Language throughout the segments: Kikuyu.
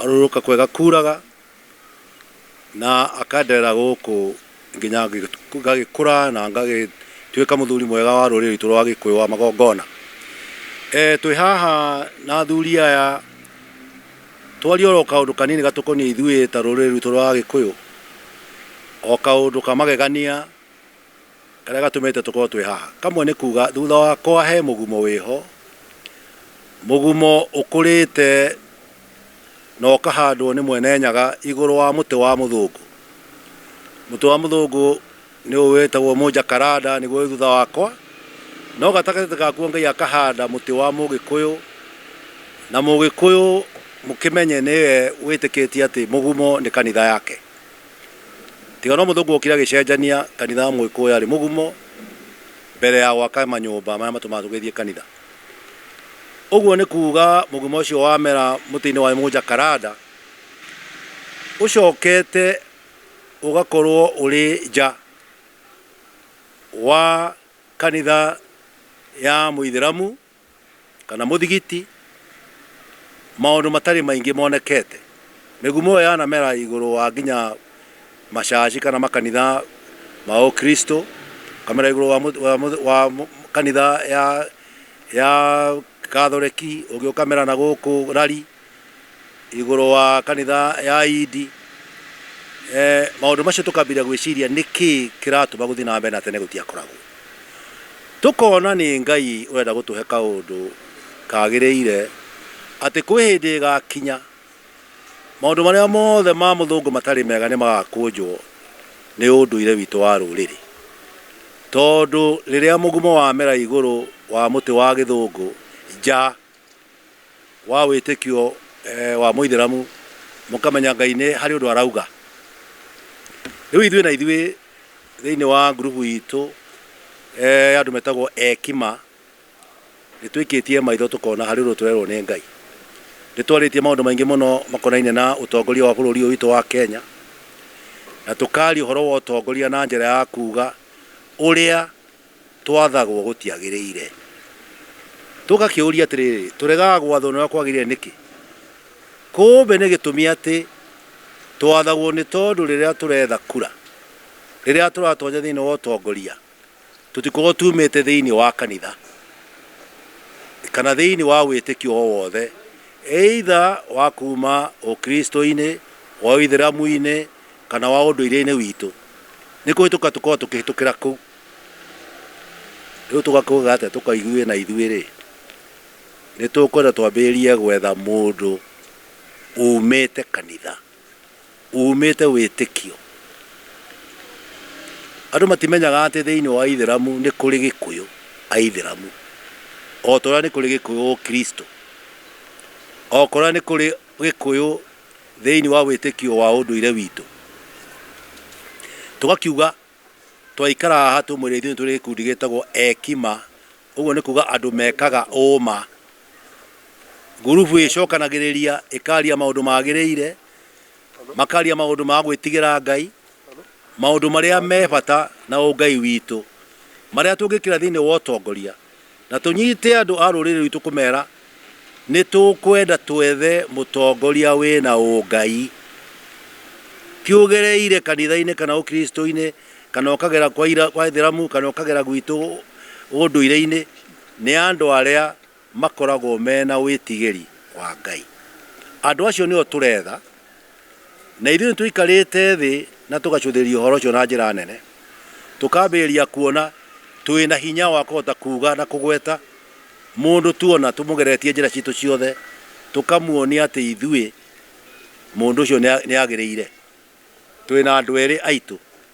Arurũka kwega kuuraga, na akenderera gũkũ nginya ngagĩkũra na ngagĩtuĩka mũthuri mwega wa rũrĩrĩ rwitũ rwa Gĩkũyũ wa magongona. Twĩ haha na athuri aya twarie oro kaũndũ kanini gatũkoniĩ ithuĩ ta rũrĩrĩ rwitũ rwa Agĩkũyũ, o kaũndũ ka magegania. Karĩa gatũmĩte tũkorwo twĩ haha. Kamwe nĩ kuga thutha wakwa he mũgumo wĩho, mũgumo ũkũrĩte na ũkahandwo nĩ Mwene Nyaga igũrũ wa mũtĩ wa mũthũngũ. Mũtĩ wa mũthũngũ nĩ ũyũ wĩtagwo mũjakaranda nĩguo wĩ thutha wakwa, no gatagatĩ gakuo Ngai akahanda mũtĩ wa mũgĩkũyũ, na mũgĩkũyũ mũkĩmenye nĩwe wĩtĩkĩtie atĩ mũgumo nĩ kanitha yake. Tiga no mũthũngũ wokire agĩcenjania kanitha wa Mũgĩkũyũ arĩ mũgumo mbere ya gwaka manyũmba marĩa matũmaga tũgĩthiĩ kanitha. Ũguo nĩ kuuga mũgumo ũcio wamera mũtĩ-inĩ wa ĩmũ Jacaranda ũcokete ũgakorwo ũrĩ nja wa kanitha ya Mũithĩramu kana mũthigiti, maũndũ matarĩ maingĩ monekete. Mĩgumo ĩyo yanamera igũrũ wa nginya macaci kana makanitha ma ũkristo, ĩkamera igũrũ wa mũtĩ, wa mũtĩ, wa mũ, kanitha ya, ya gathoreki, ũngĩ ũkamera nagũkũ rari. igũrũ wa kanitha ya Ayindi, eh, maũndũ macio tũkambĩrĩria gwĩciria nĩkĩ kĩratũma gũthiĩ na mbere na tene gũtiakoragwo tũkona nĩ Ngai ũrenda gũtũhe kaũndũ kagĩrĩire atĩ kwĩ hĩndĩ ĩgakinya maũndũ marĩa mothe ma mũthũngũ matarĩ mega nĩ magakũnjwo nĩ ũndũire witũ wa rũrĩrĩ tondũ rĩrĩa mũgumo wamera igũrũ wa mũtĩ wa gĩthũngũ nja wa wĩtĩkio eh, wa mũithĩramu mũkamenya ngai nĩ harĩ ũndũ arauga rĩu ithuĩ na ithuĩ thĩinĩ wa ngurubu itũ eh, ya andũ metagwo ekima nĩ twĩkĩtie maitho tũkona harĩ ũndũ tũrerwo nĩ ngai nĩ twarĩtie maũndũ maingĩ mũno makonainie na ũtongoria wa bũrũri ũyũ witũ wa kenya na tũkaria ũhoro wa ũtongoria na njĩra ya kuga ũrĩa twathagwo gũtiagĩrĩire. Tũgakĩũria atĩrĩrĩ, Tũregaga gwathwo nĩ ũrĩa kwagĩrĩire nĩkĩ? Kũmbe nĩ gĩtũmi atĩ twathagwo nĩ tondũ rĩrĩa tũretha kura, rĩrĩa tũratonya thĩinĩ wa ũtongoria, tũtikoragwo tuumĩte thĩinĩ wa kanitha kana thĩinĩ wa wĩtĩkio o wothe, either wa kuuma Ũkristo-inĩ, wa Ũithĩramu-inĩ, kana wa ũndũire-inĩ witũ. Nĩ kũhĩtũka tũkoragwo tũkĩhĩtũkĩra kũu. Rĩu tũgakĩuga atĩa tũkaiguĩna ithuĩ-rĩ? Nĩ tũkwenda twambĩrĩrie gwetha mũndũ umĩte kanitha, umĩte wĩtĩkio. Andũ matimenyaga atĩ thĩinĩ wa Ithĩramu nĩ kũrĩ Gĩkũyũ Aithĩramu, o ta ũrĩa nĩ kũrĩ Gĩkũyũ Ũkristo, o ta ũrĩa nĩ kũrĩ Gĩkũyũ thĩinĩ wa wĩtĩkio wa ũndũire witũ. Tũgakiuga Twaikara haha tũmwĩre ithuĩ nĩ tũrĩ gĩkundi gĩtagwo Ekima, ũguo nĩ kuga andũ mekaga ũũma. Ngurubu ĩcokanagĩrĩria ĩkaria maũndũ magĩrĩire, makaria maũndũ ma gwĩtigĩra Ngai, maũndũ marĩa me bata na ũngai witũ, marĩa tũngĩkĩra thĩinĩ wa ũtongoria Na tũnyite andũ a rũrĩrĩ rwitũ kũmera nĩtũkwenda twethe mũtongoria wĩna ũngai tiũgereire kanithainĩ kana ũkristoinĩ kana ũkagera kwa aithĩramu kana ũkagera gwitũ ũndũireinĩ nĩ andũ arĩa makoragwo mena wĩtigĩri wa Ngai. Andũ acio nĩo tũretha. Na ithuĩ nĩ tũikarĩte thĩ na tũgacũthĩrĩria ũhoro ũcio na njĩra nene, tũkambĩrĩria kuona twĩ na hinya wa kũhota kuuga na kũgweta mũndũ tuona tũmũgeretie njĩra citũ ciothe, tũkamuonia atĩ ithuĩ mũndũ ũcio nĩ agĩrĩire. Twĩ na andũ erĩ aitũ.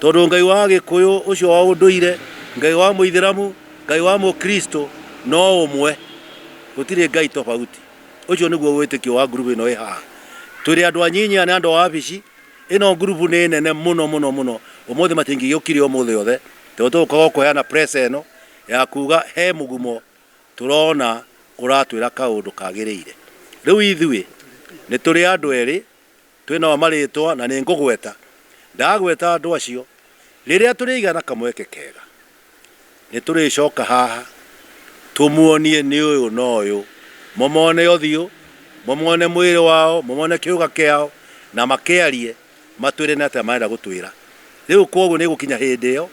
Tondũ Ngai wa Agĩkũyũ ũcio wa ũndũire, Ngai wa Mũithĩramu, Ngai wa Mũkristo no ũmwe. Gũtirĩ Ngai tofauti. Ũcio nĩguo wĩtĩkio wa ngurubu ĩno ĩ haha. Twĩrĩ andũ anyinyi, aya nĩ andũ a wabici. Ĩno ngurubu nĩ nene mũno mũno mũno. Ũmũthĩ matingĩgĩũkire ũmũthĩ othe. Tondũ tũgũkaga o kũheana press ĩno ya kuuga he mũgumo tũrona ũratwĩra kaũndũ kagĩrĩire. Rĩu ithuĩ nĩ tũrĩ andũ erĩ Twĩ nao marĩĩtwa na nĩ ngũgweta. Ndagweta andũ acio. Rĩrĩa tũrĩgĩa na kamweke kega, nĩ tũrĩcoka haha tũmuonie nĩ ũyũ na ũyũ, mũmone ũthiũ, mũmone mwĩrĩ wao, mũmone kĩũga kĩao, na makĩarie, matwĩre nĩ atĩa marenda gũtwĩra. Rĩu kwoguo nĩ ĩgũkinya hĩndĩ ĩyo,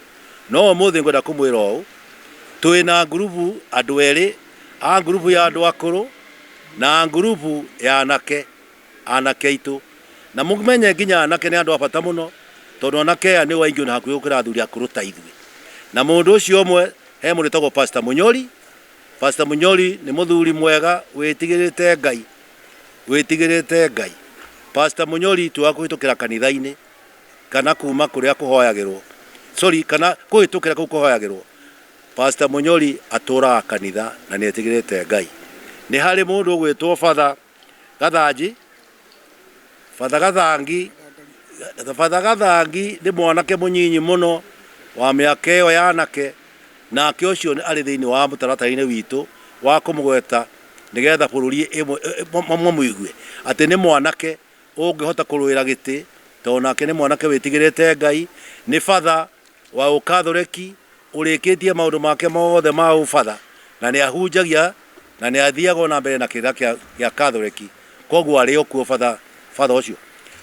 no ũmũthĩ ngwenda kũmwĩra ũũ, twĩ na ngurubu andũ erĩ a ngurubu ya andũ akũrũ na ngurubu ya anake. anake aitũ. Na mũmenye nginya anake nĩ andũ a bata mũno, tondũ anake aya nĩo aingĩ ona hakuhĩ gũkĩra athuri akũrũ ta ithuĩ. Na mũndũ ũcio ũmwe he mũndũ wĩtagwo Pastor Mũnyori. Pastor Mũnyori nĩ mũthuri mwega wĩtigĩrĩte Ngai, wĩtigĩrĩte Ngai. Pastor Mũnyori ti wa kũhĩtũkĩra kanitha-inĩ kana kuma kũrĩa kũhoyagĩrwo, sorry, kana kũhĩtũkĩra kũu kũhoyagĩrwo. Pastor Mũnyori atũraga kanitha na nĩ etigĩrĩte Ngai. Nĩ harĩ mũndũ ũgwĩtwo Father Gathanji, Father Gathangi, Father Gathangi nĩ mwanake mũnyinyi mũno wa mĩaka ĩyo ya anake, nake ũcio nĩ- arĩ thĩinĩ wa mũtaratara-inĩ witũ wa kũmũgweta nĩgetha bũrũri ĩmwe- ĩ- ĩ- ma- mamũigue atĩ nĩ mwanake ũngĩhota kũrũĩra gĩtĩ tondũ nake nĩ mwanake wĩtigĩrĩte Ngai, nĩ Father wa Ũkatholeki ũrĩkĩtie maũndũ make mothe ma ũbatha na nĩ ahunjagia na nĩ athiaga o na mbere na kĩrĩra kĩa gĩa Katholeki, kwoguo arĩ o kuo batha batha ũcio.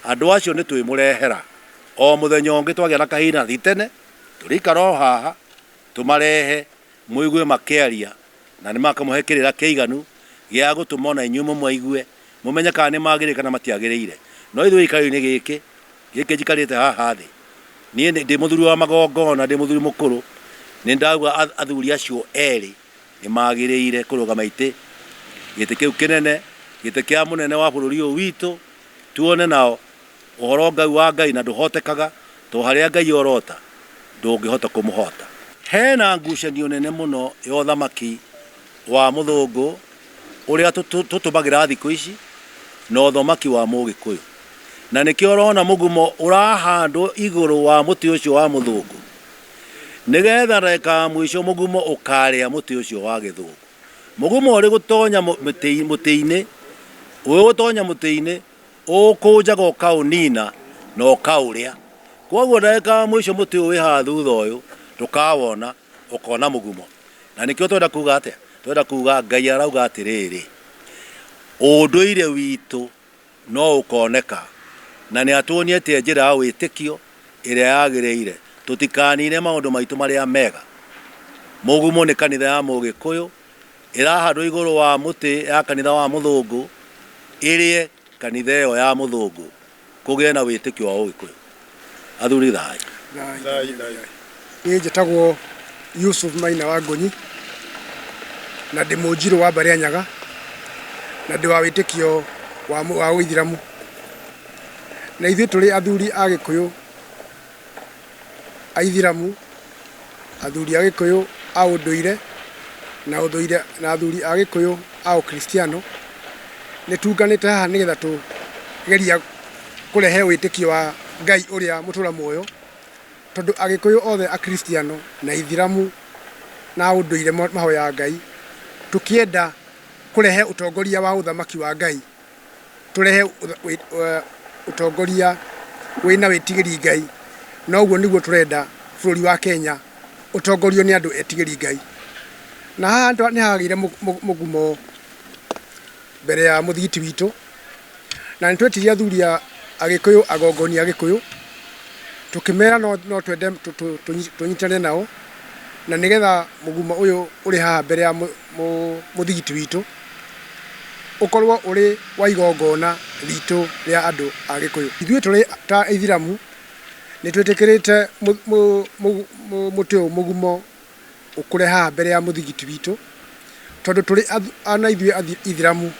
Andũ acio nĩ twĩmũrehera o mũthenya ũngĩ twagĩa na kahinda ti tene, tũrĩikara o haha tũmarehe mũigue makĩaria na nĩ makamũhe kĩrĩra kĩiganu gĩa gũtũma o na inyuĩ mũmaigue. mũmenye kana nĩ magĩrĩire kana matiagĩrĩire. No ithuĩ gĩikaro-inĩ gĩkĩ, gĩkĩ njikarĩte haha thĩ, niĩ nĩ, ndĩ mũthuri wa magongona, ndĩ mũthuri mũkũrũ, nĩ ndauga ath- athuri acio erĩ nĩ magĩrĩire kũrũgama itĩ, gĩtĩ kĩu kĩnene, gĩtĩ kĩa mũnene wa bũrũri ũyũ witũ, tuone nao ũhoro Ngai wa Ngai na ndũhotekaga, to harĩa Ngai orota, ndũngĩhota kũmũhota. Hena ngucanio nene mũno ya ũthamaki wa mũthũngũ ũrĩa tũtũmagĩra thikũ ici na ũthomaki wa mũgĩkũyũ na nĩkĩo ũrona mũgumo ũrahandwo igũrũ wa mũtĩ ũcio wa mũthũngũ nĩgetha ndagĩka ya mũico mũgumo ũkarĩa mũtĩ ũcio wa gĩthũngũ mũgumo ũrĩ gũtonya mũtĩ-inĩ ũrĩ gũtonya mũtĩ-inĩ ũkũnjaga ũkaũnina na ũkaũrĩa koguo ndagĩka ya mũico mũtĩ ũyũ wĩ haha thutha ũyũ ndũkawona ũkona mũgumo na nĩkĩo twenda kuga atĩa twenda kuga ngai arauga atĩrĩrĩ ũndũire witũ no ũkoneka na nĩ atuonĩtie njĩra ya wĩtĩkio ĩrĩa yagĩrĩire tũtikanine maũndũ maitũ marĩa mega mũgumo nĩ kanitha ya mũgĩkũyũ ĩrahandwo igũrũ wa mũtĩ ya kanitha wa mũthũngũ ĩrĩe kanitha ĩyo ya mũthũngũ Kũgĩe na wĩtĩkio wa Ũgĩkũyũ. Athuri thayũ. Niĩ njĩtagwo Yusuf Maina wa Ngũnyi, na ndĩ Mũnjirũ wa Mbarĩanyaga, na ndĩ wa wĩtĩkio wa Ũithĩramu. Na ithuĩ tũrĩ athuri a Gĩkũyũ, Aithiramu, athuri a Gĩkũyũ a ũndũire na ũthũire na athuri a Gĩkũyũ a ũkristiano, nĩ tunganĩte haha nĩ getha tũgeria kũrehe wĩtĩkio wa Ngai ũrĩa mũtũra muoyo, tondũ Agĩkũyũ othe akristiano na aithiramu na a ũndũire mahoyaga Ngai, tũkĩenda kũrehe ũtongoria wa ũthamaki wa Ngai. tũrehe ũtongoria wĩna wĩtigĩri Ngai, na ũguo nĩguo tũrenda bũrũri wa Kenya ũtongorio nĩ andũ etigĩri Ngai. Na haha nĩ hagĩire mũgumo mbere ya mũthigiti witũ, na nĩ twetirie athuri a Agĩkũyũ, agongoni a Gĩkũyũ, tũkĩmera no twende tũnyitane nao, na nĩgetha mũgumo ũyũ ũrĩ haha mbere ya mũthigiti witũ ũkorwo ũrĩ wa igongona ritũ rĩa andũ a Gĩkũyũ. Ithuĩ tũrĩ ta Aithĩramu nĩ twĩtĩkĩrĩte mũtĩ ũyũ mũgumo ũkũre haha mbere ya mũthigiti witũ, tondũ tũrĩ ona ithuĩ Aithĩramu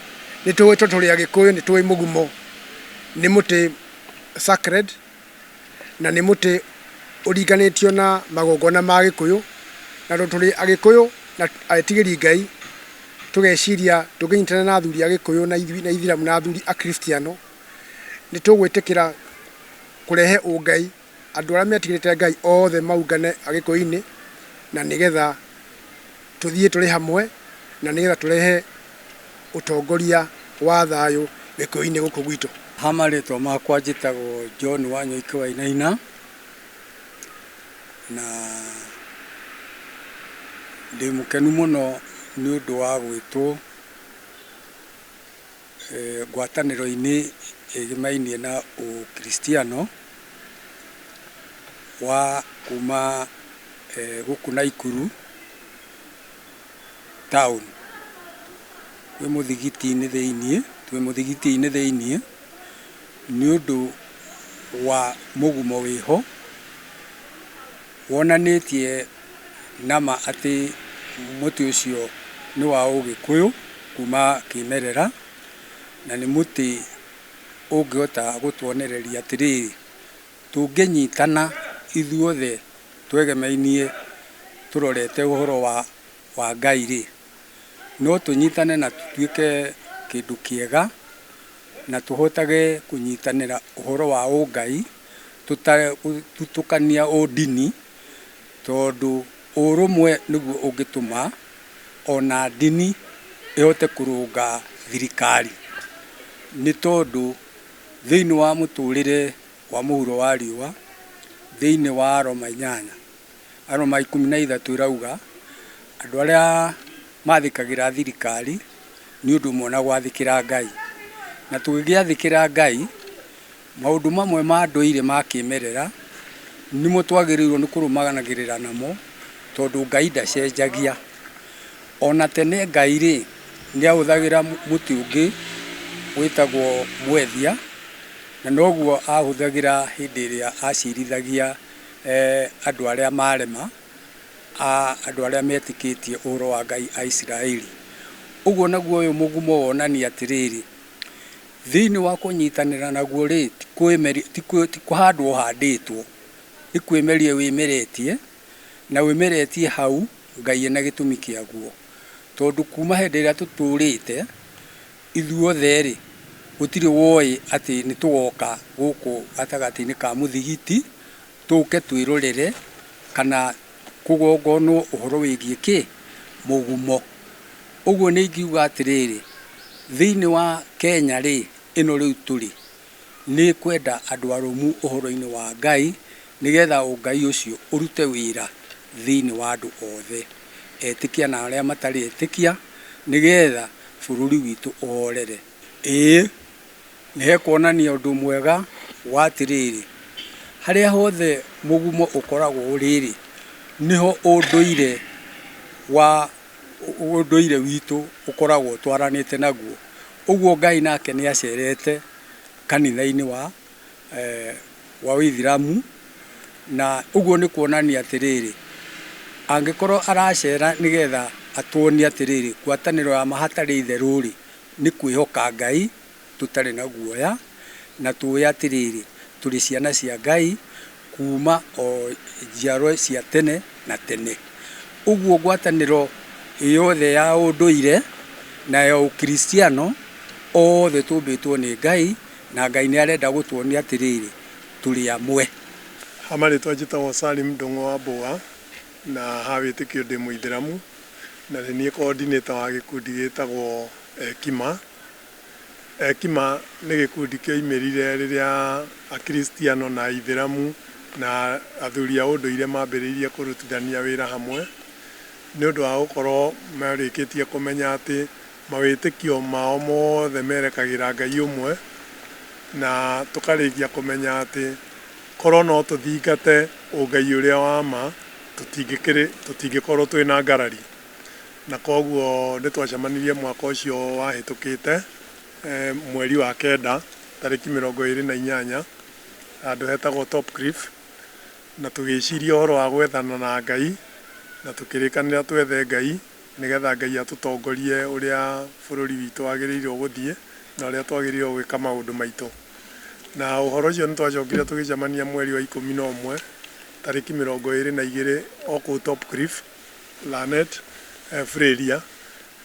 nĩ tũĩ tondũ tũrĩ Agĩkũyũ nĩ tũĩ mũgumo nĩ mũtĩ sacred. na nĩ mũtĩ ũringanĩtio na magongona ma Agĩkũyũ, na tondũ tũrĩ Agĩkũyũ na etigĩri Ngai, tũgeciria tũngĩnyitana na athuri Agĩkũyũ na Aithĩramu na athuri Akristiano, nĩ tũgwĩtĩkĩra kũrehe ũngai, andũ arĩa metigĩrĩte Ngai othe maũngane Agĩkũyũ-inĩ, na nĩgetha Tũthiĩ tũrĩ hamwe na nĩgetha tũrehe ũtongoria wa thayũ gĩkũyũ-inĩ gũkũ gwitũ. Ha marĩtwa makwa njĩtagwo John Wanyoike Wainaina, na ndĩmũkenu mũno nĩũndũ wa gwĩtwo. ngwatanĩro-inĩ ĩgĩmainie na ũkiristiano wa kuma gũkũ Naikuru town. Twĩ mũthigiti-inĩ thĩiniĩ, twĩ mũthigiti-inĩ thĩiniĩ nĩũndũ wa mũgumo wĩho. Wonanĩtie nama atĩ mũtĩ ũcio nĩ wa ũgĩkũyũ kuma kĩmerera, na nĩ mũtĩ ũngĩhota gũtuonereria atĩrĩrĩ, tũngĩnyitana ithuothe twegemainie tũrorete ũhoro wa wa Ngai-rĩ, no tũnyitane na tũtuĩke kĩndũ kĩega, na tũhotage kũnyitanĩra ũhoro wa ũngai. gũtukania ũndini tondũ ũrũmwe nĩguo ũngĩtũma ona ndini ĩhote kũrũnga thirikari. Nĩ tondũ thĩiniĩ wa mũtũrĩre wa mũhuro wa riũa, thĩiniĩ wa aroma inyanya, aroma ikũmi na ithatũ ĩrauga andũ arĩa mathĩkagĩra thirikari nĩ ũndũ ũmwe na gwathĩkĩra Ngai. Na tũngĩgĩathĩkĩra Ngai Maũndũ mamwe ma ndũire ma kĩmerera nĩmo twagĩrĩirwo nĩ kũrũmanagĩrĩra namo tondũ Ngai ndacenjagia. O na tene Ngai rĩ, nĩ ahũthagĩra mũtĩ ũngĩ wĩtagwo mwethia, na noguo ahũthagĩra hĩndĩ ĩrĩa aciarithagia andũ arĩa marema, andũ arĩa metĩkĩtie ũhoro wa Ngai a Isiraeli. Ũguo naguo ũyũ mũgumo wonania atĩrĩrĩ, Thĩinĩ wa kũnyitanĩra naguo-rĩ, ti kũhandwo ũhandĩtwo, nĩ kwĩmeria wĩmeretie, na wĩmeretie hau, Ngai ena gĩtũmi kĩaguo. Tondũ kuma hĩndĩ ĩrĩa tũtũrĩte, ithuothe-rĩ, gũtirĩ woĩ atĩ nĩ tũgoka gũkũ gatagatĩ-inĩ ka mũthigiti, Tũke twĩrorere kana kũgongonwo ũhoro wĩgiĩ kĩ? Mũgumo. Ũguo nĩ ingiuga atĩrĩrĩ, thĩinĩ wa Kenya rĩ, ĩno rĩu tũrĩ, nĩ ĩkwenda andũ arũmu ũhoro-inĩ wa Ngai, nĩgetha ũngai ũcio ũrute wĩra thĩinĩ wa andũ othe, etĩkia na arĩa matarĩ etĩkia, nĩgetha bũrũri witũ ũhorere. Ĩĩ, nĩ ekuonania ũndũ mwega wa atĩrĩrĩ, harĩa hothe mũgumo ũkoragwo ũrĩ-rĩ, nĩho ũndũire wa, ũndũire witũ ũkoragwo ũtwaranĩte naguo. Ũguo Ngai nake nĩ acerete kanitha-inĩ wa, wa ũithĩramu, na ũguo nĩ kuonania atĩrĩrĩ, angĩkorwo aracera nĩgetha atuonie atĩrĩrĩ, ngwatanĩro ya ma hatarĩ itherũ-rĩ, nĩ kwĩhoka Ngai tũtarĩ na guoya, na tũũĩ atĩrĩrĩ, tũrĩ ciana cia Ngai kuuma o njiarwa cia tene na tene. Ũguo ngwatanĩro yothe ya ũndũire na ya ũkristiano, othe tũmbĩtwo nĩ Ngai, na Ngai nĩ arenda gũtuonia atĩrĩrĩ, tũrĩ amwe. Ha marĩtwa njĩtagwo Salim Ndung'u Wambua, na ha wĩtĩkio ndĩ mũithĩramu, Na nĩ niĩ coordinator wa gĩkundi gĩtagwo Ekima. Ekima nĩ gĩkundi kĩoimĩrire rĩrĩa Akiristiano na Aithĩramu na athuri a ũndũire mambĩrĩirie kũrutithania wĩra hamwe, nĩ ũndũ wa gũkorwo marĩkĩtie kũmenya atĩ Mawĩtĩkio mao mothe merekagĩra Ngai ũmwe, na tũkarĩkia kũmenya atĩ korũo no tũthingate ũngai ũrĩa wa ma, tũtingĩkorũo twĩ na ngarari. Na kwoguo nĩ twacemanirie mwaka ũcio wahĩtũkĩte mweri wa kenda tarĩki mĩrongo ĩrĩ na inyanya handũ hetagwo Top Cliff, na tũgĩciria ũhoro wa gwethana na Ngai na tũkĩrĩkanĩra twethe Ngai. nĩgetha Ngai atũtongorie ũrĩa bũrũri witũ wagĩrĩirwo gũthiĩ na ũrĩa twagĩrĩirwo gwĩka maũndũ maitũ. Na ũhoro ũcio nĩ twacokire tũgĩcemania mweri wa ikũmi na ũmwe tarĩki mĩrongo ĩrĩ na igĩrĩ o kũu Topcliff, Lannet, Freiria,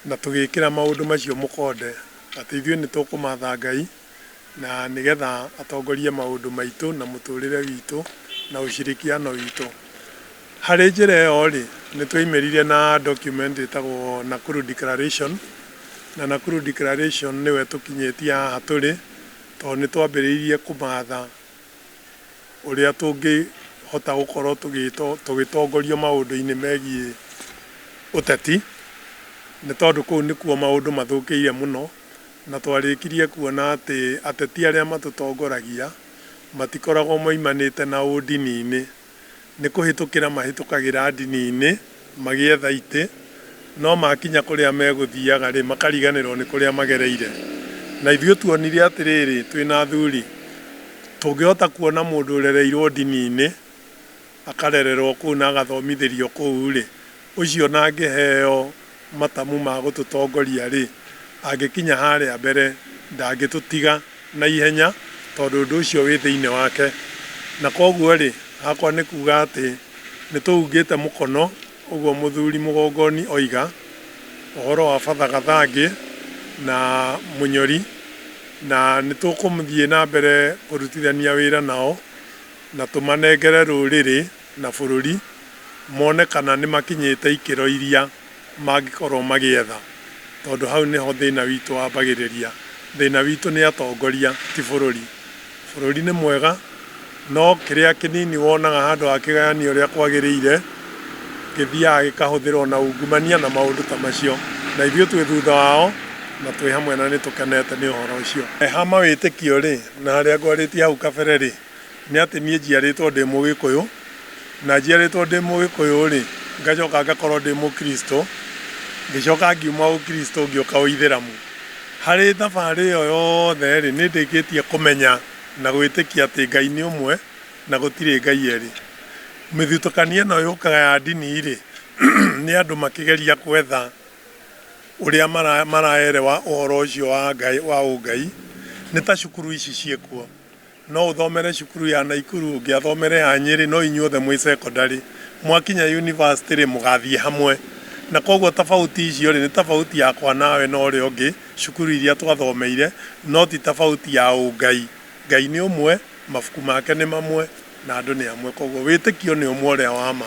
na tũgĩkĩra maũndũ macio mũkonde atĩ ithuĩ nĩ tũkũmatha Ngai, na nĩgetha atongorie maũndũ maitũ na mũtũrĩre witũ na ũcirikiano witũ. Harĩ njĩra ĩyo rĩ, nĩ twaimĩrire na document ĩtagwo Nakuru Declaration, na Nakuru Declaration nĩyo ĩtũkinyĩtie haha tũrĩ, tondũ nĩ twambĩrĩirie kũmatha ũrĩa tũngĩhota gũkorwo tũgĩtongorio maũndũ-inĩ megiĩ ũteti, nĩ tondũ kũu nĩkuo maũndũ mathũkĩire mũno. na twarĩkirie kuona atĩ ateti arĩa matũtongoragia matikoragwo moimanĩte na ũndini-inĩ, nĩ kũhĩtũkĩra mahĩtũkagĩra ndini-inĩ magĩetha itĩ, no makinya kũrĩa megũthiaga-rĩ, makariganĩrwo nĩ kũrĩa magereire. Na ithuĩ tuonire atĩrĩrĩ, twĩ na athuri, tũngĩhota kuona mũndũ ũrereirwo ndini-inĩ akarererwo kũu na agathomithĩrio kũu-rĩ, ũcio na angĩheo matamu ma gũtũtongoria-rĩ, angĩkinya harĩa mbere ndangĩtũtiga na ihenya tondũ ũndũ ũcio wĩ thĩinĩ wake. Na kwoguo-rĩ, hakwa nĩ kuuga atĩ nĩ tũhungĩte mũkono, ũguo Mũthuri Mũgongoni oiga, ũhoro wa Father Gathangĩ na Mũnyori, na nĩ tũkũthiĩ na mbere kũrutithania wĩra nao Na tũmanengere rũrĩrĩ na bũrũri, mone kana nĩmakinyĩte ikĩro iria mangĩkorwo magĩetha, tondũ hau nĩho thĩna witũ wambagĩrĩria. Thĩna witũ nĩ atongoria, ti bũrũri. Bũrũri nĩ mwega, no kĩrĩa kĩnini wonaga handũ ha kĩgayanio ũrĩa kwagĩrĩire, gĩthiaga gĩkahũthĩrwo na ungumania na maũndũ ta macio. Na ithuĩ twĩ thutha wao, na twĩ hamwe na nĩtũkenete nĩ ũhoro ũcio. He ha mawĩtĩkio-rĩ, na harĩa ngwarĩtie hau kabere-rĩ, Nĩ atĩ niĩ njiarĩtwo ndĩ Mũgĩkũyũ, na njiarĩtwo ndĩ Mũgĩkũyũ-rĩ, ngacoka ngakorwo ndĩ Mũkristo, ngĩcoka ngiuma Ũkristo ngĩũka Ũithĩramu. Harĩ thabarĩ ĩyo yothe-rĩ, nĩ ndĩkĩtie kũmenya na gwĩtĩkia atĩ Ngai nĩ ũmwe na gũtirĩ Ngai erĩ. Mĩthutũkanio ĩno yũkaga ya ndini-rĩ, nĩ andũ makĩgeria gwetha ũrĩa maraerewa ũhoro ũcio wa Ngai, wa ũngai, nĩ ta cukuru ici ciĩ kuo. No ũthomere cukuru ya Naikuru ũngĩ athomere ya Nyeri no inyuothe mwĩ cekondarĩ. Mwakinya yunivasĩtĩ rĩ mũgathiĩ hamwe. Na kwoguo tabauti icio rĩ nĩ tabauti yakwa nawe na ũrĩa ũngĩ, cukuru iria twathomeire no ti tabauti ya ũngai. Ngai nĩ ũmwe, mabuku make nĩ mamwe na andũ nĩ amwe kwoguo wĩtĩkio nĩ ũmwe ũrĩa wa ma.